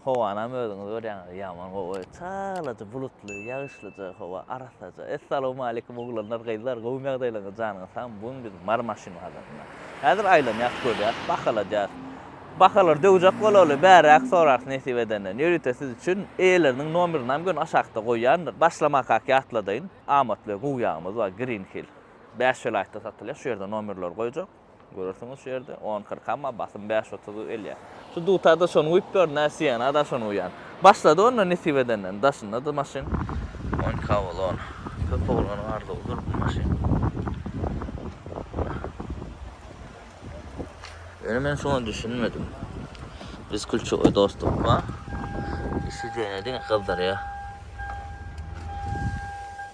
Howanam özüňiz görýäňiz, ýaman gowy. Çalaja bulutly, ýagyşlyja howa, arassaja. Essalawmaleýkim, oglanlar, gyzlar, gowumy ýagdaýlaryňyz, janyňyz sagmy? Bu gün biz Mary maşyn bazarynda. Häzir aýlanýas, görýäs, bahaladýas. Bahalary döwjek bolaly, bäräk sorarys nesip edenden. Ýörite siz üçin eýeleriniň nomerynam göni aşakda goýýandyr. Başlamakak ýatladaýyn. Amatly gowy ýagymyz bar, Green Hill. Bäş welaýatda satylýar, şu ýerde nomerleri goýjak. Görersiňiz şu ýerde on kyrk amma basym bäş otuz gelýär. Şu dutar-da şony guýup ber, nä siýena-da şony guýan. Başlady onda nesip edenden. Daşynda-da maşyn. On iki Avalon. Köp oglanyň arzuwydyr bu maşyn. Ýöne men şuňa düşünmedim. Biz Külçegoý dostlukka. Işi diýene diňe gyzdyrýar.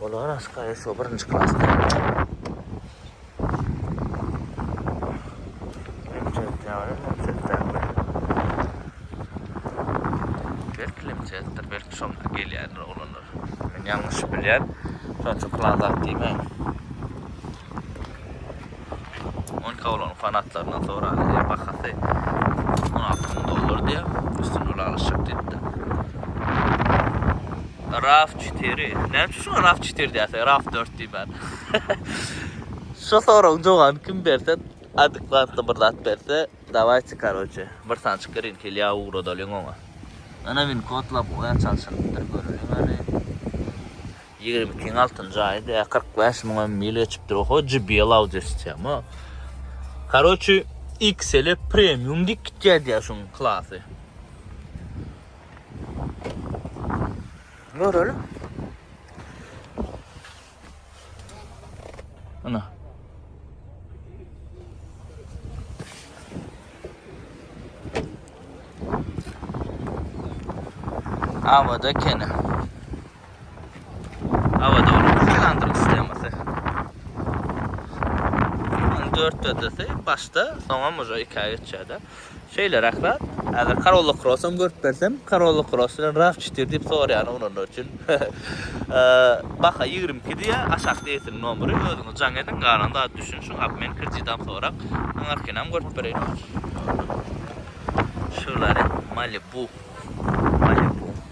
Olar aşgaýa şo birinji klasda. Belki limçetdir, belki şoň gelýärler olanlar. Men ýalňyş bilýän. Şonça plan zat diýmäň. On iki awlagyň fanatlaryndan soraly diýýär. Bahasy on alty müň dollar diýýär. Üstüni ylalaşjak diýipdir. Raf 4. Näme üçin şuňa Raf 4 diýýärsiň? Raf 4 diýmän. Şu soragyň jogabyny kim berse, adekwatly bir zat berse, dawayçe, karoçe, bir sançyk green hilýa ugradalyň oňa. Ynha win kodlap goýan çalşynypdyr, göreliň hany. Ýigrimi ikiň altynjy aýy dä kyrk bäş müňe mil geçipdir oho JBL audio sistema. Karoçi XL premium dik gitýär diýär şuň klasy. Göreli. Ana. Avada kene. Abadowyň hylandryk sistemasy. Ony dört dördesi başda, soňam uja ikä geçýär-de. Şeýleräk zat. Häzir Corolla Cross hem görüp bersem, Corolla Cross bilen RAV4 diýip soraýan oglanlar üçin. Baha ýigrimi iki diýýär, aşak deýsin nomeri, özüňiz jaň ediň, galan zady düşünişiň, obmen kreditam sorap, aňarkynam görüp bereýin. Chevrolet Malibu. Malibu.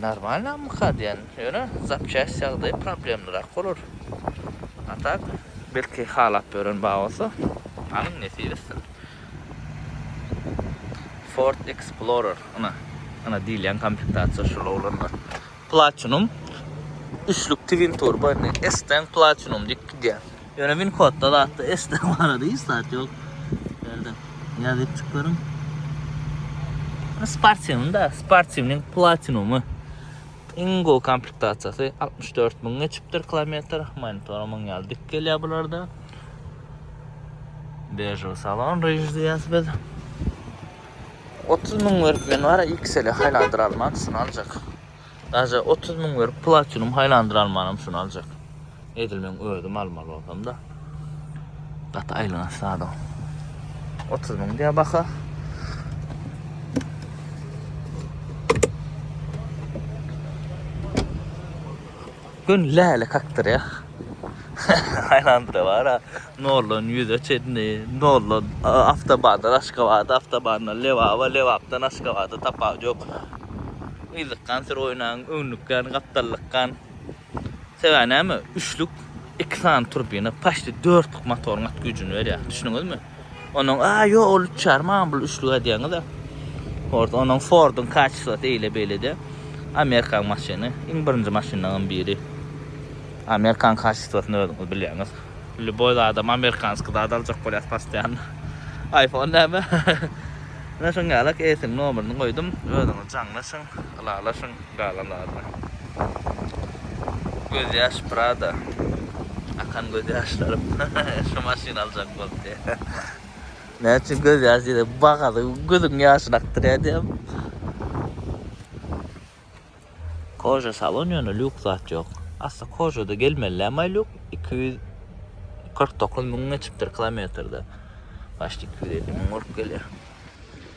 Normalnamyka diýen, ýöne zapçast ýagdaýy problemlirak bolar. A tak, belki halap ýören bar bolsa, alyň nesip etsin. Ford Explorer, ynha, ynha diýilýän komplektasiýa şol oglanlar. Platinum üçlük twin turbo indi S-den Platinum diýip gidýär. Ýöne Winkodda zatda eşitde barada hiç zat ýok. Ýerde ýazyp çykaryn. Sportiwny da, sportiwnyň platinumy. Iň gowy komplektasiýasy 64 müň geçipdir kilometr. Monitor muň ýaly dik gelýär bularda. Bežew salon rejiz diýýäs biz. 30 müň berip men bara XL-e haýlandyr alman, şuny aljak. Daže otuz müň berip platinum haýlandyr almanam şuny aljak. Edil men özüm almaly bolsam-da. Gaty aýlanaç zada. Otuz müň diýä baha. Gün läle kakdyrýar. Aýlandyra bara. Noldan ýüze çenli, noldan awtobandan Aşgabada, awtobandan Lebaba, Lebapdan Aşgabada tapawut ýok. Yzlykgan süri oýnaň, öňlükgan, gapdallykgan. Sebäbi näme? Üçlük iki sany turbina, paçti dörtlük motoryň at güýjüni berýär. Düşündiňizmi? Onuň a ýok ol üçar maňa bul üçlük aýdýaňyza. Ford onuň Forduň kaçyslasy eýle beýlede. Amerikan maşyny iň birinji maşynlaryň biri. Amerikan kaçyslasyny özüňiz bilýäňiz. Lýuboý zadam amerikanskiý zat aljak bolýas postoýanno. Aýfon näme? Menä şoň ýalak eýsiniň nomerini goýdum. Özüňiz jaňlaşyň, ylalaşyň. Gala Lala. Göz ýaş Prada. Akan göz ýaşlarym. Şu maşyny aljak bolup diýýä. Näme üçin göz ýaş diýdi. Bagady gözüň ýaşyny akdyrýar diýýämi. Koja salon ýöne lýuks zat ýok. Asly Kojada gelmelilämaý lýuk. Iki ýüz kyrk dokuz müň geçipdir kilometrde. Başda iki ýüz elli müň bolup gelýär.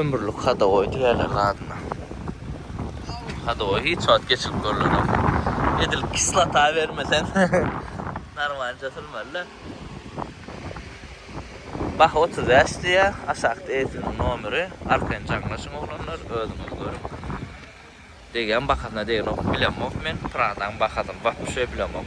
Ömürlik hadowoý diýýärler gazyna. Hadowoý hiç wagt geçilip görlenok. Edil kislota bermeseň narmanca sürmeli-de. Baha otuz bäş diýýär. Aşakda eýesiniň nomeri. Arkaýyn jaňlaşyň oglanlar, özüňiz görüň. Degýän bahasyna degenok, bilemok men. Pradaň bahasyny wapşe bilemok.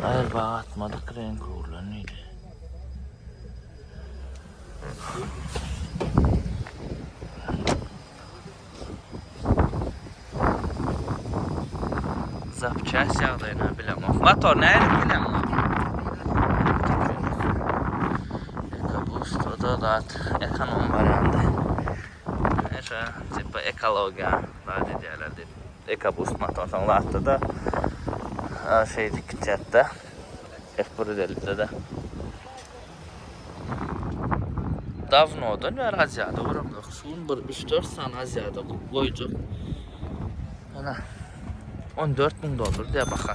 Aýal baga atmadyk reňki urlan diýdi. Zapçast ýagdaýyna bilemok. Motor nädip bileň? Ekobus da zat ekonom barýanda. Eşe, tipa ekologiýa zat edýärler diýip. Ekobus motordan zatda-da şeýdip gitýätde. Hep bir özellikde-de. Dawnodan bäri Aziýada göremzok. Şu gün bir üç-dört sany Aziýada goýjak. Ýöne on dört müň dollar diýýär baha.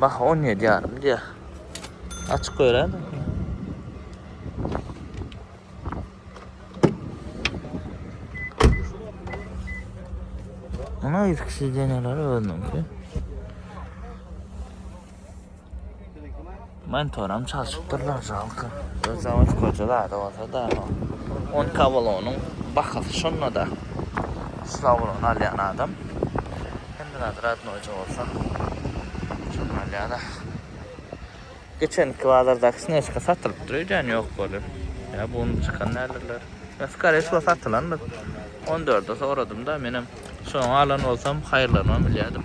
Baha on ýedi ýarym diýýär. Açyk göýräýin. Ana ýüzüksiz deneler özüniňki. Monitoram çalşypdyrlar žalko. Özem üç goja zady bolsada o on kabalonyň bahasy şonda-da slawony alýan adam hemme zady radnoýja bolsa şony alýada. Geçenki bazardaky snežka satylypdyr öýdýän ýok bolup ýa bu unup çykan däldirler ýa skore wsho satylandyr on dörde soradymda menem şony alan bolsam haýyrlanmam bilýädim.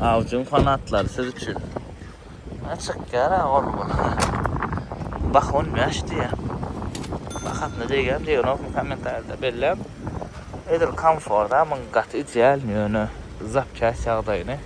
Awjyň fanatlary siz üçin. Ha çykýar ha gorgun. Bah 15 diýä. Bahasyna degen diýenokmy kommentariýada belläň. Edil komforda muň gaty ideal ýöne zapçaсть ýagdaýyny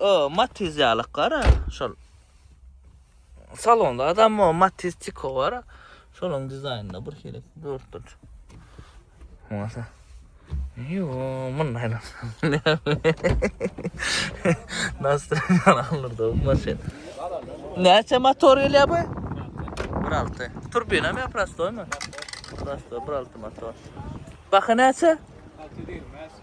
O, Matiz ýalyk gara, şol salonda adam o Matiz Tiko bar. Şonuň dizaýnynda bir şeýle dörtdür. Masa. Yo, mun näle. Nasıl karanlık da bu maşyn. Näçe motor gelýär bu? 1.6. Turbina mı prostoy mı? Prostoy 1.6 motor. Bakı näçe? 620.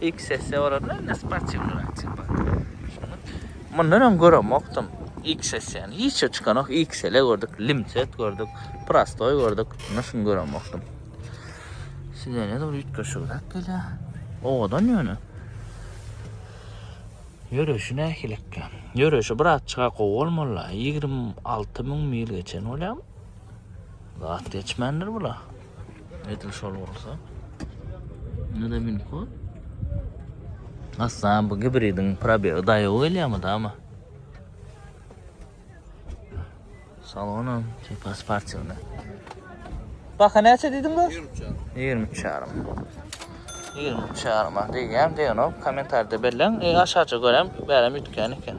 Ilk sessiýa barada men indi sportiwnyny aýtjak bolsam. Mundan öň göremokdym ilk sessiýany. Hiç zat çykanok. XL gördük, limset gördük, prostoý gördük. Mundan şuny göremokdym. Sidenýa da bir üýtgeşigräk gelýär. Owadan ýöne. Ýöreýşi nähilikä? Ýöreýşi birazçyka gowy bolmalylar. Ýigrimi alty müň mil geçen bolýarmy? Zat geçmändir bula. Edil şol bolsa. Ne de min kod. Aslan bu gibridin pробег daýaw gelýärmi dama? Salonam tipa sportivna. Baka näçe diýdiň bu? 23 ýarym. 23 ýarym. 23 ýarym diýýän diýenok. Kommentarda belläň. E aşaça görem bärem ýütkän eken.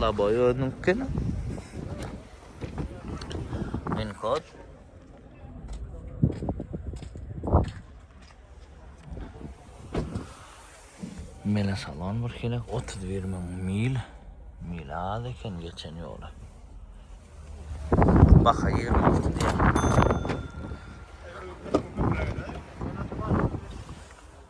Laboy özüňkini. Min kod. Mele salon bir kere 31 mil. Mil milad eken geçen yola. Baka 26 diye.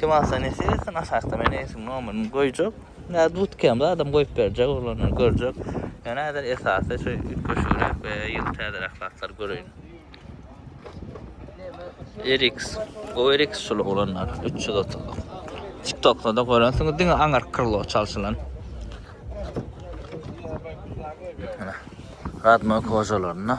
Kim alsa nesip etsin aşakda meni esim nomerini goýjak. Nä dutkem da adam goýup berjek oglanlar görjek. Yani häzir esasy şu üýtgeşigräk we ýyl täzeräk zatlar göreýin. RX. O RX şul oglanlar 330. TikTokda da görensiňiz diňe aňar krlo çalşylan. Radno kojalarynda.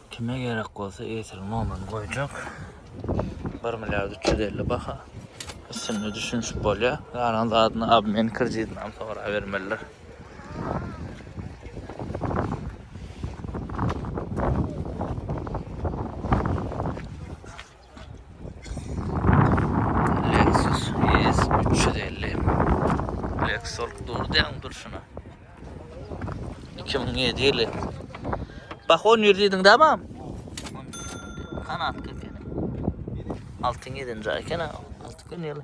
Kime gerek bolsa etir nomerini goýjak. 1 milliard 350 baha. Üstünde düşünişip bolýar. Galan zadyny abmen kreditini hem sorap bermeliler. Lexus ES 350 Black Solk durdy ýaň durşuna. 2007 ýyly. Bak 10 ýüz diýdiň dämem? Kanat köpeni. Altyn ýedinci eken ha. Altyn ýyly.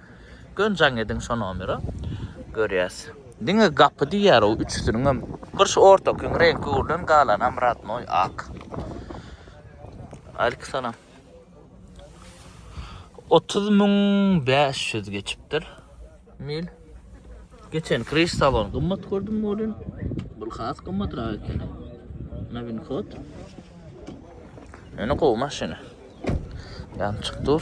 Gön jaň ediň şo nomera görýäs. Diňe gapy diýýär o üçüsiniňem. Bir şu ortakyň reňki gürlen galanam radnoý ak. Aleykum salam. Otuz müň bäş ýüz geçipdir. Mil. Geçen kriş salon gymmat gördüm welin bul has gymmatrak ekeni. Nowin hod. Ýöne gowy maşyn. Ýançyk dur.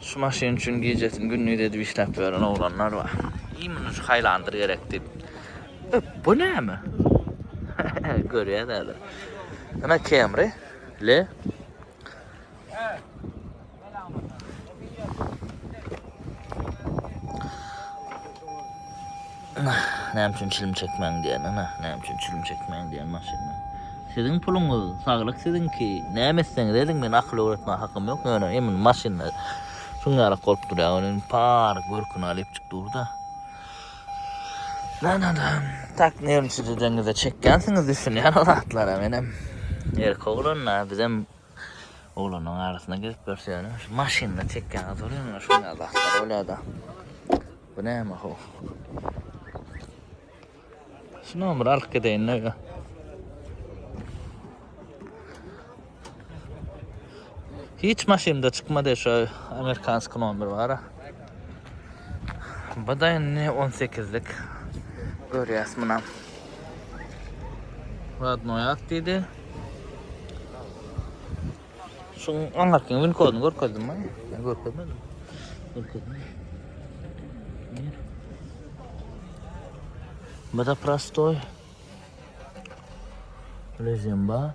Şu maşyn üçin gijesini gündiz edip işläp ýören oglanlar bar. Iý muny şu haýlandyr gerek diýip. E, bu näme? Görýän häzir. Ana Camry, le. Näme üçin çilim çekmäň diýen, ana, näme üçin çilim çekmäň diýen maşynda. Siziň puluňyz, saglyk siziňki. Näme etseňiz ediň, men akyl öwretmäge hakym ýok. Ýöne emin maşynda şuň ýaly bolup durýar. Ony par görküni alyp çyk durda. Näme adam? Tak nerwni çizedeňizde çekýänsiňiz düşünýän o zatlara menem. Erkek oglan, bizem Oglanyň arasyna girip görseňem şu maşynda çekýäňiz bolýaňyz şuňňe zatlar bolýada. Bu näme ho. Şu nomeri alyp gideýin öýe. Hiç maşynda çykmady şu amerikanski nomer bara. Bu da indi on sekizlik. Görýäs munam. Radnoý at diýdi. Şu aňarky win koduny görkezdim mi? Men görkezmedim. Görkezmedim. Bu da prostoy. Lezemba.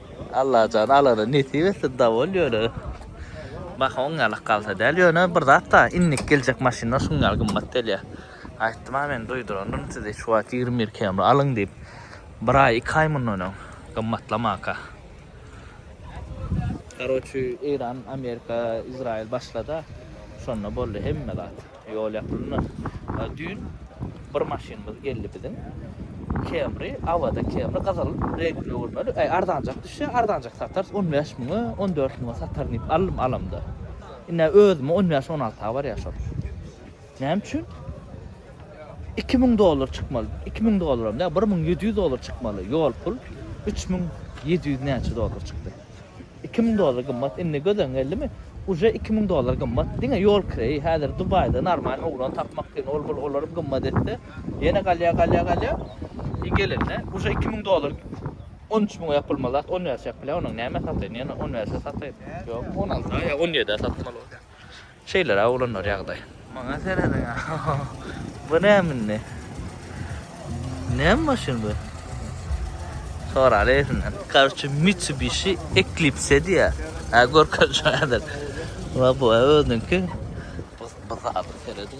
Allajan alana nesip etsin dawol ýöne baha oň ýalak galsa däl ýöne bir zat da innik geljek maşynlar şuň ýaly gymmat gelýä aýtdym a men duýdurandyryn sizi şu wagt ýigrimi bir kemri alyň diýip bir aý iki aý mundan öň gymmatlamaka karoçi eýran amerika izraýyl başlada şonda boldy hemme zat. Ýol ýapylynda. Düýn bir maşynymyz geldi biziň. Camry, Avada Camry gyzyl reňkli öwürmeli. Äý, arzanjak düşse, arzanjak satarys, on bäş müňe, on dört müňe sataryn diýip aldym, alamda. Indi-ä özüme on bäş, on alta barýar şol. Näme üçin? Iki müň dollar çykmaly. Iki müň dollaram däl, bir müň ýedi ýüz dollar çykmaly. Ýol pul üç müň ýedi ýüz näçe dollar çykdy. Iki müň dollar gymmat indi göz öňüňe geldimi? Uje iki müň dollar gymmat diňe ýol kireýi häzir Dubaýda normal oglan tapmak kyn ol bul olar gymmat etse ýene galýa galýa galýa i gelende uje iki müň dollar on üç müňe ýapylma zat on berse ýapylýa onuň näme sataýyn ýene on berse sataýyn ýok on alsa ýa on ýedä satmaly bolýa. Şeýleräk oglanlar ýagdaý. Maňa serediň a. Bu näme indi? Näme maşyn bu? Soraly ezinden. Karçe Mitsubishi Eclipse diye. Ha görkez şu adam. Ulan bu özünki. Buz buz abi seredin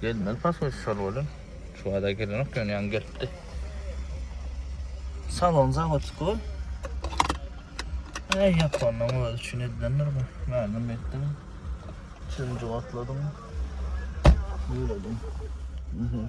Gelmeli pasoş şol bolun. Şu wada gelenok ýöne ýaňy gelipdi. Salon zawodski bol. Ey Japonyň özi üçin edilendir bu. Mälim etdim. Üçünji gatladyň. Ýöredim. Mhm.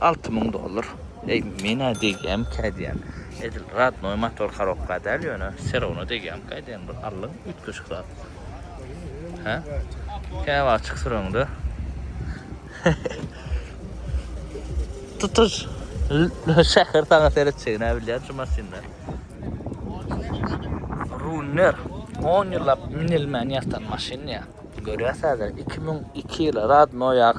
Alty müň dollar. Eý menä degýämkä diýýän. Edil radnoý motor korobka däl ýöne serowno degýämkä diýýän bir allyň üýtgeşik zat. Hä? Käbir açyk süreňde tutuş şäher saňa seretjegini bilýän şu maşynda. Runner 10 ýyllap minilmän ýatan maşyn ýa. Görýäs häzir 2002 ýyly radnoýak.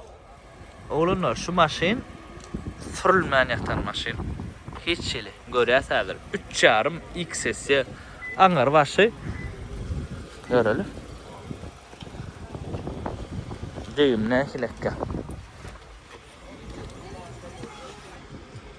Oglanlar şu maşyn sürülmän ýatan maşyn. Hiç hili. Görýäs häzir üç ýarym X sessiýa aňyr başy. Göreli. Düýbüne nähili ekýär.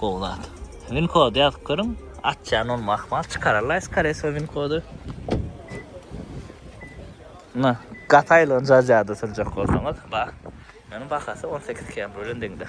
Gowy zat. Win kody ýazyp görüň. Açýan bolma ahmal çykararlaý skare so win kody. Na, gataýlygyny jaja-da sürjek bolsaňyz, ba. Ýöne bahasy 18 km bilen deňde.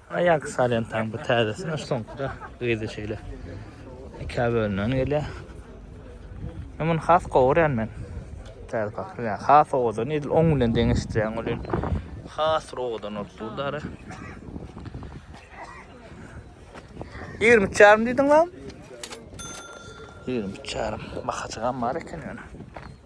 Aýak salýan taň bu täzesine soňkuda gyzy şeýle ikä bölünen gelýär. Men muny has gowurýan men. Täze pakyr ýa has owadan edil oň bilen deňeşdirýän bolýan. Has owadan bolup durdy ara. 20 çarym diýdiň lan? 20 çarym. Bakaçygam bar eken ýöne.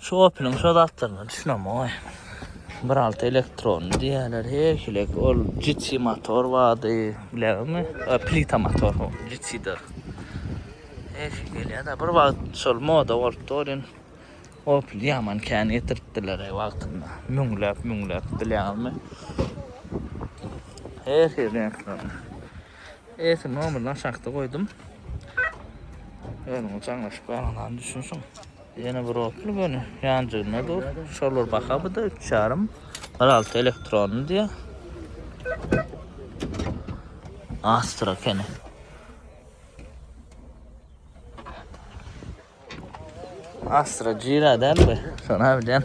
Şu Opel-iň şo zatlaryna düşünemok. Biralty elektronly diýýärler. Her hili ol GT motor bardy. Bileňmi? Plita motor bu. GT-de. Her hili gelýär-de. Bir wagt şol moda bolupdy olim. Opel ýaman kän getiripdiler wagtynda. Müňläp, müňläp bileňizmi? Her hili reňkler. Eýsem nomerini aşakda goýdum. Özüňiz çaňlaşyp garaňyz düşünişiň. Ýene bir otly göni ýanjygynda dur. Şolar baha bu-da 3,5. 1,6 elektronly diýýär. Astra kene. Astra Jira däl bu. Şona bilen.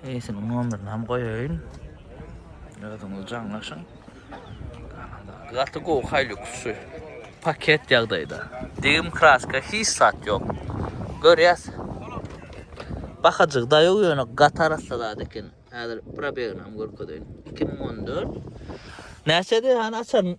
Eýsiniň nomerini hem goýaýyn. Özüňiz jaňlaşyň. Gaty gowy Hilux şu paket ýagdaýda. Degim kraska hiç zat ýok. Görýäs. Bahajyk da ýok ýöne gaty arassa zat eken. Häzir probeginam görkezeýin. 2014. Näçedi hany açaryn.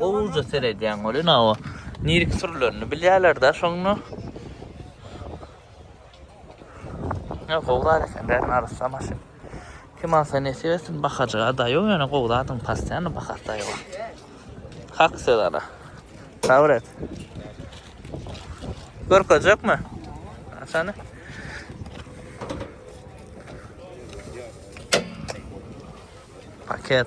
Gowja seredýän welin awa nirki sürülerini bilýärler-dä şonda. Ne gowzar eken bärin arassa maşyn. Kim alsa nesip etsin bakajyga daýaw ýöne gowy zadyň pastyýany bakar daýawa. Hak söz ana. Sabr et. Görkezjekmi? Seni. Paket.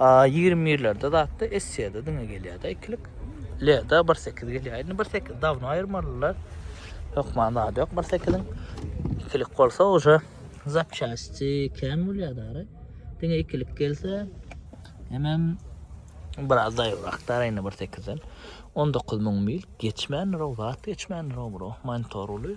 A ýigrimi birlerde zatda Essiýada diňe gelýärdi ikilik. Leda bir sekiz gelýär. Indi bir sekiz dawno aýyrmalylar. Hökman zady ýok bir sekiziň. Ikilik bolsa uje zapçasti kem bolýardy ara. Diňe ikilik gelse hemem biraz zaýyrakdar indi bir sekizden. 19 müň mil geçmän rowzat geçmän rowro mantoruly.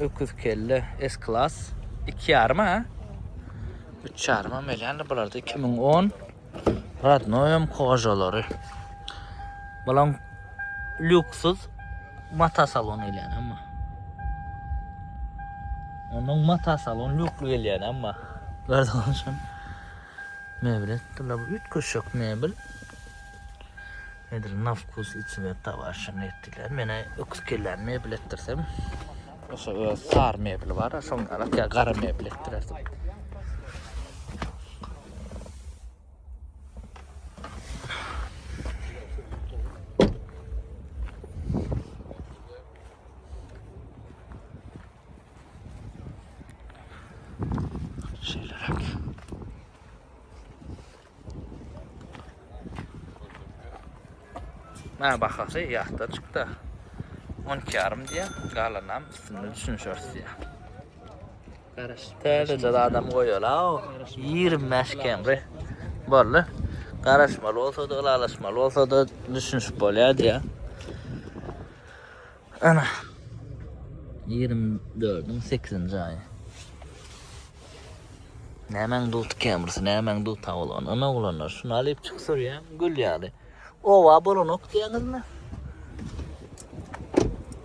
Öküz kelle S klas. 2,5 ha? 3,5 hem elýändir bularda 2010. Radnoýam kožalary. Bulan lüksyz mata salon elýän amma. Onuň mata salon lükli gelýän amma. Gördüňizmi? Mebel etdiler. Üýtgeşik mebel. Nedir na vkus i cweta waşa mebtiler. Mena öküz kelläni mebel etdirsem. Oşa öz sar mebeli bar. Şoň alak ya gara mebel etdirerdim. Şeyler Mä bahasy ýatda çykda. 12 ýarym diýä, galanam üstünde düşünişeris diýä. Garaş. Täze adam goýala. 25 kemri. Boldy. Garaşmaly bolsa da, ylalaşmaly bolsa da düşünişip bolýar diýä. Ana. 24-iň 8-nji aýy. Nämäň dut kemrisi, nämäň dut awlan. Ana oglanlar, şuny alyp çyk sürýän gül ýaly. Owa bolanok diýäňizmi?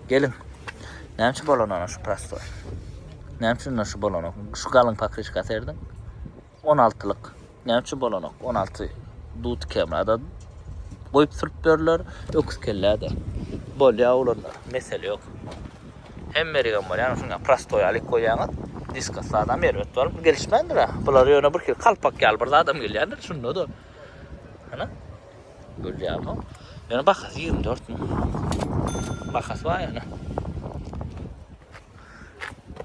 Gelin. Näçe bolan ana şu prostoy? Näçe şu bolanok? Şu galyň pakriçka serdiň? On altylyk näme üçin bolanok on alty dut kemada goýup sürüp berler öküz kelläde bolýa olanlar mesele ýok hem mergen bolýan şuňa prostoý alyp goýýaňyz diska sada merwet bar bu gelişmändir ha bular ýöne bir hil kalpak ýaly bir zadam gelýändir şunda da ana görýärmi ýöne bahasy 24 müň bahasy bar ýöne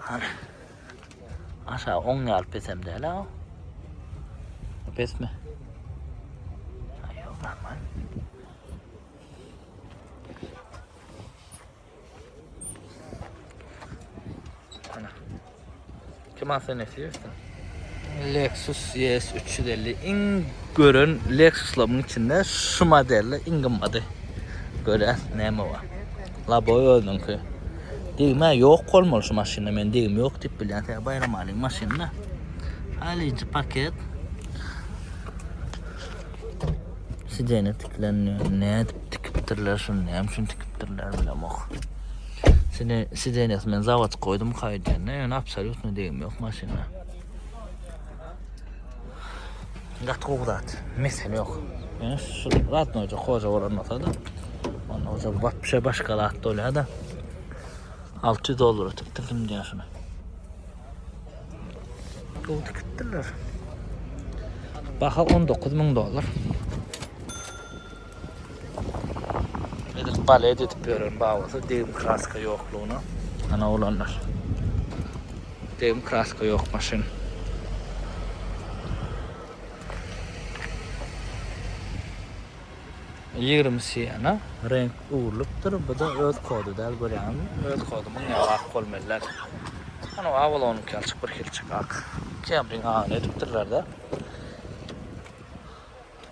ana Aşa on ýal pesem däl ha. Pesmi? Aýo, normal. Ana. Kim asyn esiyorsun? Lexus ES 350 iň gören Lexus'laryň içinde şu modelle iň gymmaty. Göräs näme bar. Laboy özüňki. Degme yok bolmaly şu maşynda men degim yok dip bilýän sen bayram alyň maşynda. Halyjy paket. Sidene tiklenýär. Nädip tikipdirler şuny? Näme üçin tikipdirler bilemok. Sine sidenes men zavat koydum kaydene. Yani absolutno degim yok maşynda. Gaty gowy zat. Mesele ýok. Ýöne şu zat noja hoja bolan bolsady. Onda bolsa wapşe başga zat bolýada. 600 dollara tikdirdim diýýär şuny. Gowy tikipdirler. Baha 19 müň dollar. Edil balet edip ýören babasy degim kraska ýoklugyna. Ana oglanlar. Degim kraska ýok maşyn. Ýigrimisi ýana reňk öwrülipdir. Bu-da öz kody däl görýäňizmi? Öz kody muň ýaly ak bolmaly däl. Ana Avalonyňky ýaly çyk birhilçik ak. Kemriň agyny edipdirler-de.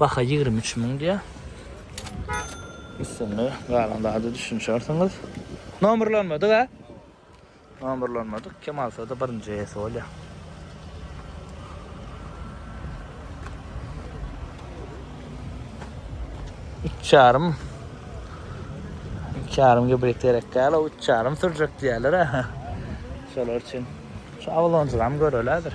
Baha ýigrimi üç müň diýýär. Üstünde galan zada düşünişersiňiz. Nomerlanmadyk a? Nomerlanmadyk. Kim alsa-da birinji eýesi bolýar. Üç ýarym. Üç ýarym gibrit gerek däl, o üç ýarym sürjek diýerler. Şolar üçin şu awlonjyram görelädir.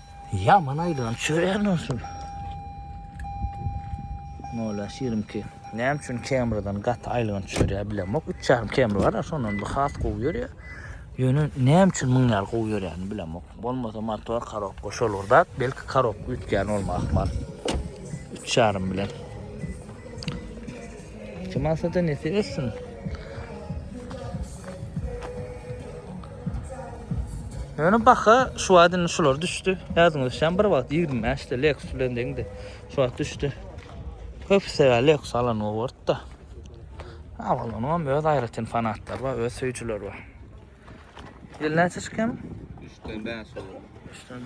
Ýaman aýlan çörän bolsun. Molla şirimki näme üçin kemriden gaty aýlan çörä bilemok. Üç çarym kemri bar, şondan bu has gowy ýörýär. Ýöne näme üçin muň ýaly gowy ýörýäni bilemok. Bolmasa motor karobka şol bir zat, belki karobka üýtgän bolma ahmal. Üç çarym bilen. Kim alsa da nesi össün. Ýöne baha şu wagt indi şular düşdi. Ýadyňyza düşen bir wagt 25 de Lexus bilen deňdi. Şu wagt düşdi. Köp sebäp Lexus alan owurtda. Awalanyň hem öz aýratyn fanatlary bar, öz söýüjileri bar. Ýyl näçe çykýan? 3-den 5 olur. 3-den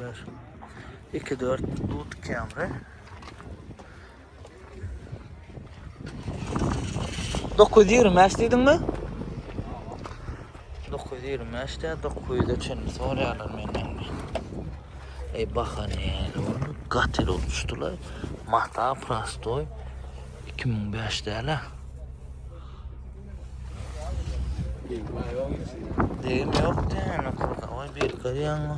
5. 2-4 Dut Camry. Dokuz ýüz ýigrimi bäş diýdiňmi? Dokuz ýüz ýigrimi bäş de dokuz ýüze çenli sorýarlar menden. Ey baha näle boldy? Gatel bolup düşdüler. Mata prostoy 2005 däl-ä. Deýim ýok diýen, okurka, oý, birka diýenmi?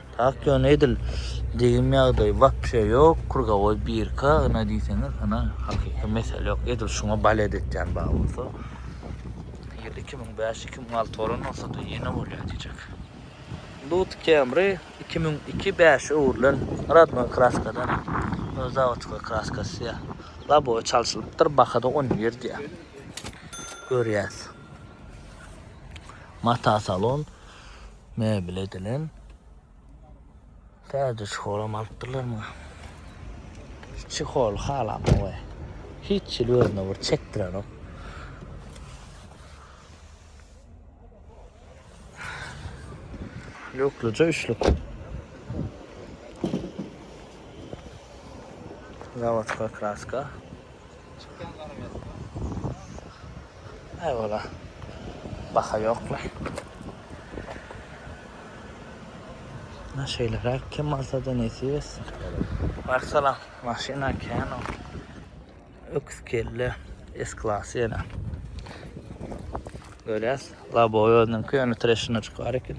Tak ýöne edil degim ýagdaýy wapşe ýok, krugowoý birka ýna diýseňiz ýna hakyky mesele ýok, edil şuňa balet etýän bar bolsa ýyl iki müň bäş, iki müň alty bolan bolsada ýene bolýar diýjek. Lut Camry iki müň iki, bäş öwrülen radnoý kraskadan ha, öz zawodskoý kraskasy ýa, labowy çalşylypdyr, bahada on bir diýýär. Görýäs. Mata salon. Mebel edilen. Täze çyholam alypdyrlar maňa. Çihol halamok we hiç ýyl özüne bir çekdirenok. Lukluca üçlük. Zavodskoy kraska. Çykýan garameska. Aý ola. Baha ýokla. Na şeýleräk kim alsada nesip etsin. Waleýkim salam. Maşyna kän ol. Öküz kelle S klasy ýene. Görýäs labowy özüniňki ýöne treşinoçik bar eken.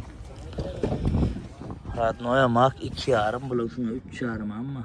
Radnoýa mak iki ýarym bular üçin üç ýarym amma.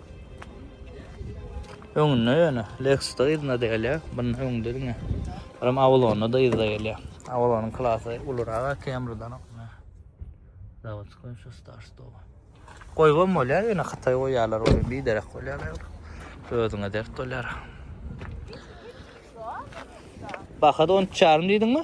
Öňünde ýöne Lexus-da yzyna degilýär. Bunun öňünde diňe. Buram Avalon-da yzyna gelýär. Avalon-yň klasy ulurak Camry-dan. Zawodskoý şu start-stop. Goýubam bolýar, ýöne Hytaý goýýarlar ony, biderek bolýarlar. Özüňe dert bolýar. Baha-da on üç ýarym diýdiňmi?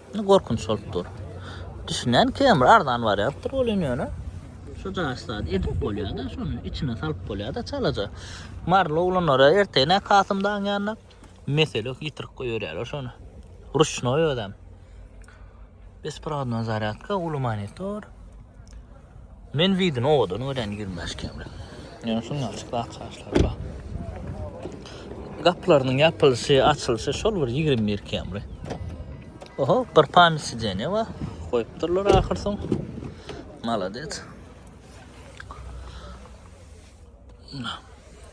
Indi gorkunç bolup dur. Düşünen kemir arzan barýapdyr ol indi ýöne. Şu daş zat edip bolýada, şony içine salyp bolýada çalaja. Maryly oglanlara ertene Kasym daň ýanyna mesele ýitirik goýberýärler şony. Ruşnoý özem. Besprodna zarýadka uly monitor. Men widini owadan görýän ýigrimi bäş kemli. Ýöne şuny açyk zat çaşlary bar. Gaplarynyň ýapylyşy, açylyşy şol bir ýigrimi bir kemli. Oho, bir pamir sideniýe bar. Goýupdyrlar ahyr soň. Malades.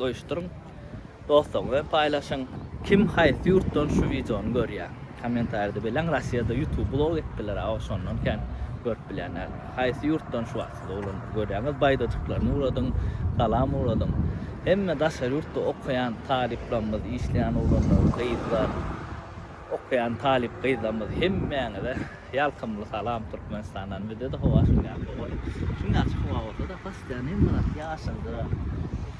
Goýuşdyryň. Dostlaryňyz bilen paýlaşyň. Kim haýsy ýurtdan şu wideony görýä? Kommentarýada belläň Rossiýada ýutub blok etdiler a oşondan kän görüp bilýän däl. Haýsy ýurtdan şu wagt siz oglan görýäňiz baýdajyklaryny uradyň salam uradyň. Hemme daşary ýurtda okaýan talyplarymyz işleýän oglanlar gyzlar okaýan talyp gyzlarymyz hemmäňize. Ýalkymly salam Türkmenistandan bizde-de howa şuň ýaly gowy. Şuň ýaşy howa bolsada postoýan hemme zat ýaşyldyr.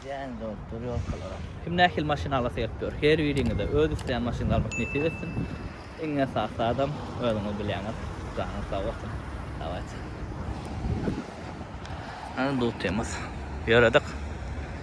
Jäň dolup dur ýolkalaram. Kim nähili maşyn alasy gelip ýör her biriňize öz isleýän maşynyňyzy almak nesip etsin. Iň esasy zadam özüňiz bilýäňiz. Janyňyz sag bolsun. Dawayt. Hany dutymyz. Ýöredik.